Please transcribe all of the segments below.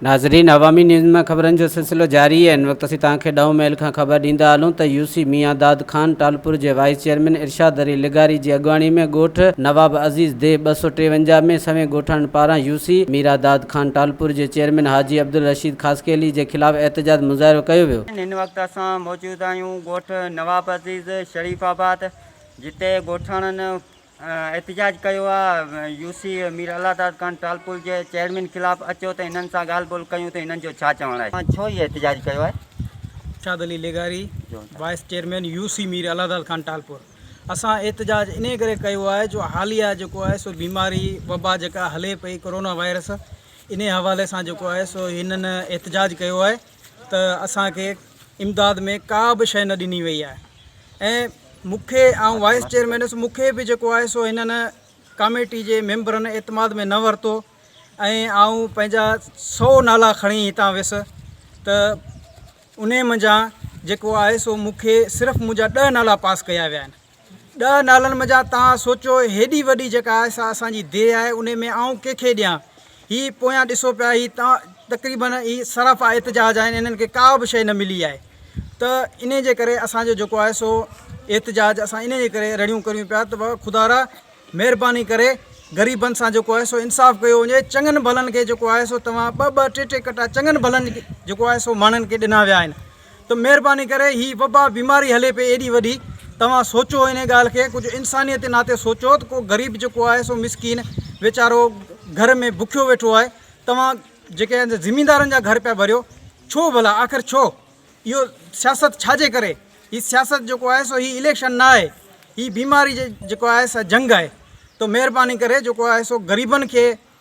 ناظرين عوامي نيوز مان خبرن جو سلسلو جاري ان وقت اسين توهان کي ڏهون ميل کان خبر ڏيندا هلون ته يو سي ميان داد خان ٽالپور جي وائيس چيئرمين ارشاد علي لغاري جي اڳواڻي ۾ ڳوٺ نواب عزيز دي ٻه سؤ ٽيونجاهه ۾ سوين ڳوٺاڻن پاران يو سي ميرا داد خان ٽالپور جي چيئرمين حاجي عبدالرشيد خاصخيلي جي خلاف احتجاج مظاهرو ڪيو ويو. جدايون ڳوٺ نواب عزيز شريف آباد جتي ڳوٺاڻن احتجاج ڪيو آ يو سي مير الله داد خان ٽالپور جي چيئرمين خلاف اچو ته هنن سان ڳالهه ٻولهه ڪيون ته هنن جو ڇا چوڻ آهي ڇو هي احتجاج ڪيو آهي. ارشاد علي لغاري vice chairman U C Mir Allah Dad Khan Talpur اسان احتجاج انهي ڪري ڪيو آهي جو حاليا جيڪو آهي سو بيماري وبا جيڪا هلي پئي ڪورونا وائرس انهي حوالي سان جيڪو آهي سو هنن احتجاج ڪيو آهي ته اسان کي امداد ۾ ڪا به شيء نه ڏني وئي آهي ۽ مون کي آئون وائيس چيئرمين هيس مون کي به جيڪو آهي سو هنن ڪاميٽي جي ميمبرن اعتماد ۾ نه ورتو ۽ آئون پنهنجا سو نالا کڻي هتان ويس ته انهي منجهان جيڪو آهي سو مون کي صرف منهنجا ڏهه نالا پاس ڪيا ويا آهن ڏهه نالن منجهان توهان سوچو هيڏي وڏي جيڪا آهي سا اسان جي ديهه آهي انهي ۾ آئون ڪنهن کي ڏيان هي پويان ڏسو پيا هي تقريبن هي سراپا احتجاج آهن انهن کي ڪا به شئي نه ملي آهي ته انهي جي ڪري اسان جو جيڪو آهي سو احتجاج اسان انهي جي ڪري رڙيون ڪريون پيا ته خدارا مهرباني ڪري غريبن سان جيڪو آهي سو انصاف ڪيو وڃي چڱن ڀلن کي جيڪو آهي سو توهان ٻه ٻه ٽي ٽي ڪٽا چڱن ڀلن جيڪو آهي سو ماڻهن کي ڏنا ويا آهن ته مهرباني ڪري هي وبا بيماري هلي پئي ايڏي وڏي توهان سوچو انهي ڳالهه کي ڪجهه انسانيت جي ناتي سوچو ته ڪو غريب جيڪو آهي سو مسڪين ويچارو گهر ۾ بکيو ويٺو آهي توهان جيڪي آهن زميندارن جا گهر پيا ڀريو ڇو ڀلا آخر ڇو اهو سياست ڇا جي ڪري هي سياست جيڪو آهي سو هي اليڪشن نه آهي هي بيماري جيڪو آهي سا جنگ آهي تو مهرباني ڪري جيڪو آهي سو غريبن کي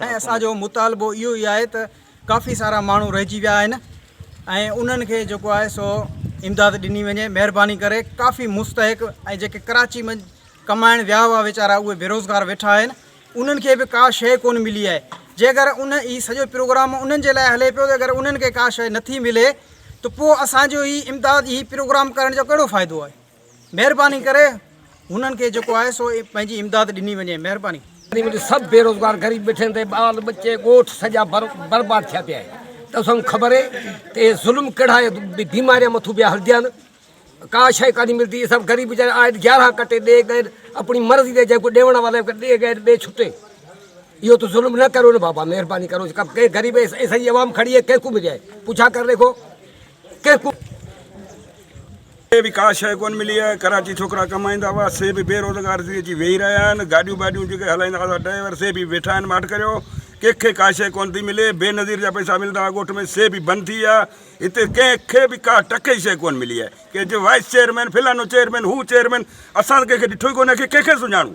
۽ اسان جو مطالبو اهو ئي آهي ته ڪافي سارا ماڻهو رهجي ويا آهن ۽ انهن کي جيڪو آهي سو امداد ڏني وڃي مهرباني ڪري ڪافي مستحق ۽ جيڪي ڪراچي ۾ ڪمائڻ ويا هئا ويچارا اهي بيروزگار ويٺا آهن انهن کي به ڪا شيء ڪونه ملي آهي جي اگر ان هي سڄو پروگرام انهن جي لاء هلي پيو ته اگر انهن کي ڪا شيء نٿي ملي ته پوء اسان جو هي امداد هي پروگرام ڪرڻ جو ڪهڙو فائدو آهي مهرباني ڪري هنن کي جيڪو آهي سو پنهنجي امداد ڏني وڃي مهرباني. سڀ بيروزگار غريب ٻيٺن تي ٻال ٻچي ڳوٺ سڄا برباد ٿيا پيا آهن ته اسان خبر اهي ته اهي ظلم ڪهڙا بيماريان مٿو پيا هلجان ڪا شئي ڪانهي ملدي اسان غريب ويچارا آئي گيارهان ڪٽي ڏي ڳئن اپڻي مرضي تي جيڪو ڏيوڻ وارو ڏي ڳئن ڏي ڇٽي اهو ته ظلم نه ڪريو نه بابا مهرباني ڪرو ڪنهن غريب سڄي عوام کڙي آهي ڪنهن ڪو ملي آهي پڇا ڪري ڏيکو ڪيڪون کي به ڪا شيء ڪونه ملي آهي، ڪراچي ڇوڪرا ڪمائيندا هئا، سي به بي روزگار ٿي اچي ويهي رهيا آهن، گاڏيون باڊيون جيڪي هلائيندا هئا سا ڊرائيور سي به ويٺا آهن ماٺ ڪريو، ڪيڪ کي ڪا شيء ڪونه ٿي ملي، بي نظير جا پئسا ملندا هئا ڳوٺ ۾ سي به بند ٿي ويا، هتي ڪنهن کي به ڪا ٽڪي شيء ڪونه ملي آهي، ڪي چئي وائيس چيئرمين، فلانو چيئرمين، هو چيئرمين، اسان ته ڪنهن کي ڏٺو ئي ڪونه آهي، ڪنهن کي سڃاڻون.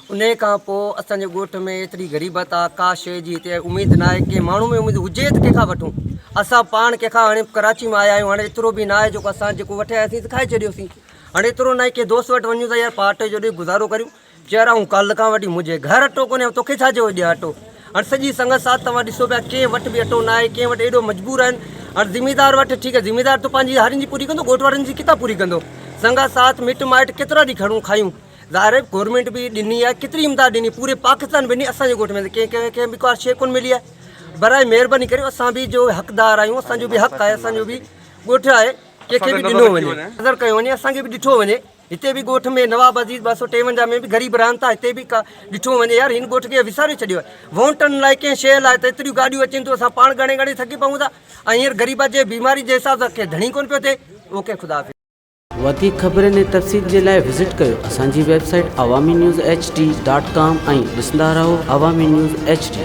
انهيء کان پوء اسان جي ڳوٺ ۾ ايتري غريبت آ، ڪا شيء جي هتي اميد ناهي، ڪنهن ماڻهو ۾ اميد هجي ته ڪنهن کان وٺون، اسان پاڻ ڪنهن کان هاڻي ڪراچي مان آيا آهيون، هاڻي ايترو به ناهي جيڪو اسان جيڪو وٺي آياسين سي کائي ڇڏيوسين، هاڻي ايترو ناهي ڪنهن دوست وٽ وڃون ته يار پاء اٽي جو ڏي گذارو ڪريون، چيو يار آئون ڪالهه کان وٺي منهنجي گهر اٽو ڪونهي آئون توکي ڇا جو ڏيان اٽو، هاڻي سڄي سنگت ساٿ توهان ڏسو پيا ڪنهن وٽ به اٽو ناهي، ڪنهن وٽ ايڏو مجبور آهن، هاڻي زميندار وٺ ٺيڪ آهي زميندار تو پنهنجي هارين جي پوري ڪندو ڳوٺ وارن جي ڪٿان پوري ڪندو، سنگت ساٿ مٽ مائٽ ڪيترا ڏينهن کڻون کايون. ظاهر آهي گورنمينٽ به ڏني آهي ڪيتري امداد ڏني پوري پاڪستان ڏني اسانجي ڳوٺ ۾ ڪنهن ڪنهن کي به ڪا شيء ڪونه ملي آهي برائي مهرباني ڪري اسان به جو حقدار آهيون اسانجو به حق آهي اسانجو به ڳوٺ آهي ڪنهن کي به ڏنو وڃي نظر ڪيو وڃي اسانکي به ڏٺو وڃي هتي به ڳوٺ ۾ نواب عزيز ٻه سؤ ٽيونجاهه ۾ به غريب رهن ٿا هتي به ڪا ڏٺو وڃي يار هن ڳوٺ کي وساري ڇڏيو آهي وونٽن لاء ڪنهن شيء لاء ته ايتريون گاڏيون اچن ٿيون اسان پاڻ ڳڻي ڳڻي ٿڪي پون ٿا ۽ هينئر غريبان جي بيماري جي حساب سان ڪنهن ڌڻي ڪونه پيو ٿئي اوڪي خدا حافظ وڌيڪ خبرن ۽ تفصيل جي لاء وزٽ ڪيو اسان جي web site Awami news H D dot com ۽ ڏسندا رهو عوامي نيوز ايڇ ڊي.